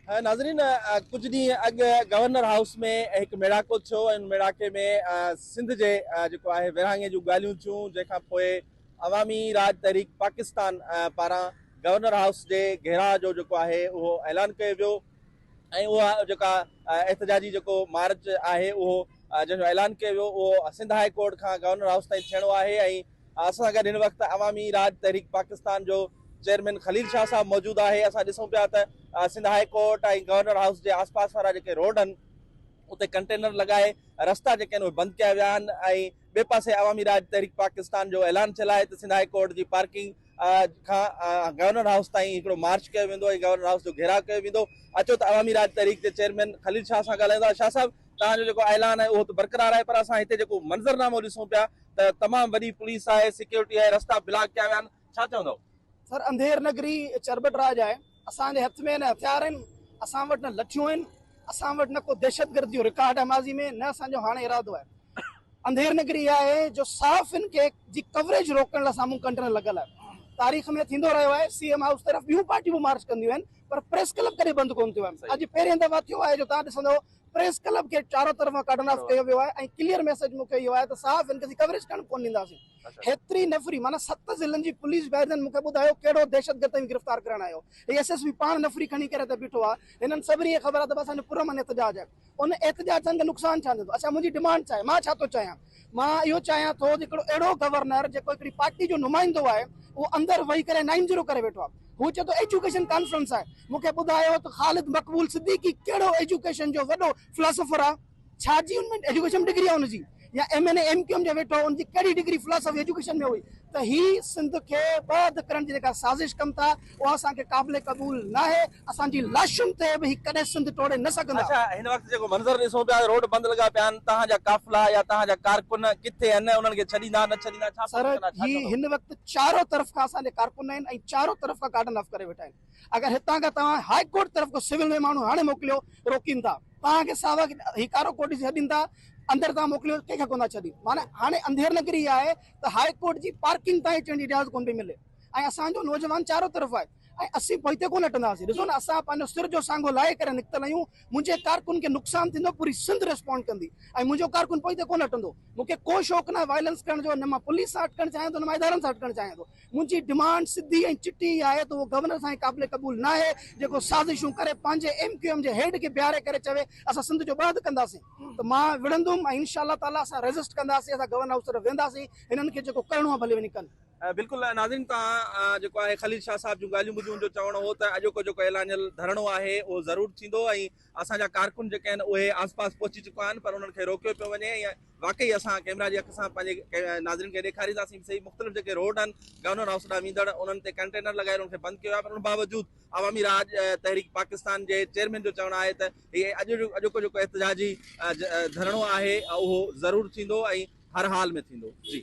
ناظرين ڪجهه ڏينهن اڳ گورنر هائوس ۾ هڪ ميڙاڪو ٿيو ۽ ان ميڙاڪي ۾ سنڌ جي جيڪو آهي ورهاڱي جون ڳالهيون ٿيون جنهن کان پوء عوامي راڄ تحريڪ پاڪستان پاران گورنر هائوس جي گهيراء جو جيڪو آهي اهو اعلان ڪيو ويو ۽ اها جيڪا احتجاجي جيڪو مارچ آهي اهو جنهن جو اعلان ڪيو ويو اهو سنڌ هاء ڪورٽ کان گورنر هائوس تائين ٿيڻو آهي ۽ اسان سان گڏ هن وقت عوامي راڄ تحريڪ پاڪستان جو چيئرمين خليل شاهه صاحب موجود آهي اسان ڏسون پيا ته Sindh high court ۽ governor house جي آس پاس وارا جيڪي روڊ آهن اتي ڪنٽينر لڳائي رستا جيڪي آهن اهي بند ڪيا ويا آهن ۽ ٻئي پاسي عوامي راڄ تحريڪ پاڪستان جو اعلان ٿيل آهي ته سنڌ هاء ڪورٽ جي پارڪنگ کان گورنر هائوس تائين هڪڙو مارچ ڪيو ويندو ۽ گورنر هائوس جو گهيراء ڪيو ويندو اچو ته عوامي راڄ تحريڪ جي چيئرمين خليل شاهه سان ڳالهايون ٿا شاهه صاحب توهان جو جيڪو اعلان آهي اهو ته برقرار آهي پر اسان هتي جيڪو منظرنامو ڏسون پيا ته تمام وڏي پوليس آهي سيڪيورٽي آهي رستا بلاڪ ڪيا ويا آهن ڇا چوندؤ؟ سر انڌير نگري چرٻٽ راڄ آهي اسان جي هٿ ۾ نه هٿيار آهن اسان وٽ نه لٺيون آهن اسان وٽ نه ڪو دهشت گردي جو رڪارڊ آهي ماضي ۾ نه اسان جو هاڻي ارادو آهي انڌير نگري اها آهي جو صحافين کي جي ڪوريج روڪڻ لاء سامهون ڪنٽرن لڳل آهي تاريخ ۾ ٿيندو رهيو آهي سي ايم هائوس طرف ٻيون پارٽيون به مارچ ڪنديون آهن پر پريس ڪلب ڪڏهن بند ڪون ٿيو آهي اڄ پهرين دفعا ٿيو آهي جو توهان ڏسندؤ پريس ڪلب کي چارو طرفان ڪارڊن آف ڪيو ويو آهي ۽ ڪليئر ميسيج مون کي اهو آهي ته صحافين کي اسين ڪوريج ڪرڻ ڪونه ڏينداسين هيتري نفري معنيٰ ست ضلعن جي پوليس بئريزن مون کي ٻڌايو ڪهڙو دهشتگرد توهين گرفتار ڪرائڻ آيو هي ايس ايس پي پاڻ نفري کڻي ڪري ته بيٺو آهي هنن سڀني کي خبر آهي ته اسان جو پرامن احتجاج آهي ان احتجاج سان ان کي نقصان ڇا ٿيندو اسان منهنجي ڊمانڊ ڇا آهي مان ڇا ٿو چاهيان مان اهو چاهيان ٿو ته هڪڙو اهڙو گورنر جيڪو هڪڙي پارٽي جو نمائندو آهي اهو اندر وهي ڪري نائن زيرو ڪري ويٺو آهي هو چئي ٿو ايجوڪيشن ڪانفرنس آهي مون کي ٻڌايو ته خالد مقبول صديقي ڪهڙو ايجوڪيشن جو وڏو فلاسفر آهي ڇا جي ان ۾ ايجوڪيشن ڊگري آهي ان جي يا M N A M Q M جا ويٺو ان جي ڪهڙي ڊگري فلاسفي ايجوڪيشن ۾ هئي ته هي سنڌ کي ٻه اڌ ڪرڻ جي جيڪا سازش ڪن ٿا اها اسان کي قابل قبول ناهي، اسان جي لاشن تي به هي ڪڏهن سنڌ ٽوڙي نه سگهندا. اچا هن وقت جيڪو منظر ڏسون پيا روڊ بند لڳا پيا آهن توهان جا قافلا يا توهان جا ڪارڪن ڪٿي آهن انهن کي ڇڏيندا نه ڇڏيندا ڇا پئي ڏسندا ڇا ڪندا. سر هن وقت چارو طرف کان اسان جا ڪارڪن آهن ۽ چارو طرف کان ڪارڊن آف ڪري ويٺا آهن اگر هتان کان توهان هاء ڪورٽ طرف ڪو سول ۾ ماڻهو هاڻي موڪليو روڪين ٿا توهان کي ساوا هي ڪارو ڪورٽ جي ڇڏين ٿا اندر توهان موڪليو ڪنهن کي ڪوندا ڇڏين معنيٰ هاڻي انڌير نگري آهي ته هاء ڪورٽ جي پارڪنگ تائين اچڻ جي اجازت ڪون پئي ملي. ۽ اسان جو نوجوان چارو طرف آهي ۽ اسين پوئتي ڪونه هٽنداسين ڏسو نه اسان پنهنجو سر جو سانگو لاهي ڪري نڪتل آهيون منهنجي ڪارڪن کي نقصان ٿيندو پوري سنڌ ريسپونڊ ڪندي ۽ منهنجو ڪارڪن پوئتي ڪونه هٽندو مون کي ڪو شوق ناهي وائلنس ڪرڻ جو نه مان پوليس سان هٽڪڻ چاهيان ٿو نه مان ادارن سان هٽڪڻ چاهيان ٿو منهنجي ڊمانڊ سڌي ۽ چٽي هي آهي ته اهو گورنر سائين قابل قبول ناهي جيڪو سازشون ڪري پنهنجي ايم ڪيو ايم جي هيڊ کي بيهاري ڪري چوي اسان سنڌ جو ٻهه ڪنداسين ته مان وڙهندم ۽ انشاء الله تعالي اسان ريزسٽ ڪنداسين اسان گورنر هائوس طرف وينداسين هنن کي جيڪو ڪرڻو آهي ڀلي وڃي ڪن. بلڪل ناظرين توهان جيڪو آهي خليل شاهه صاحب جون ڳالهيون ٻڌيون ان جو چوڻ هو ته اڄوڪو جيڪو اعلانيل ڌرڻو آهي اهو ضرور ٿيندو ۽ اسان جا ڪارڪن جيڪي آهن اهي آس پاس پهچي چڪا آهن پر انهن کي روڪيو پيو وڃي ۽ واقعي اسان ڪئميرا جي اک سان پنهنجي ناظرين کي ڏيکارينداسين به سهي مختلف جيڪي روڊ آهن گورنر هائوس ڏانهن ويندڙ انهن تي ڪنٽينر لڳائي انهن کي بند ڪيو آهي پر ان باوجود عوامي راڄ تحريڪ پاڪستان جي چيئرمين جو چوڻ آهي ته هي اڄ اڄوڪو جيڪو احتجاجي ڌرڻو آهي اهو ضرور ٿيندو ۽ هر حال ۾ ٿيندو جي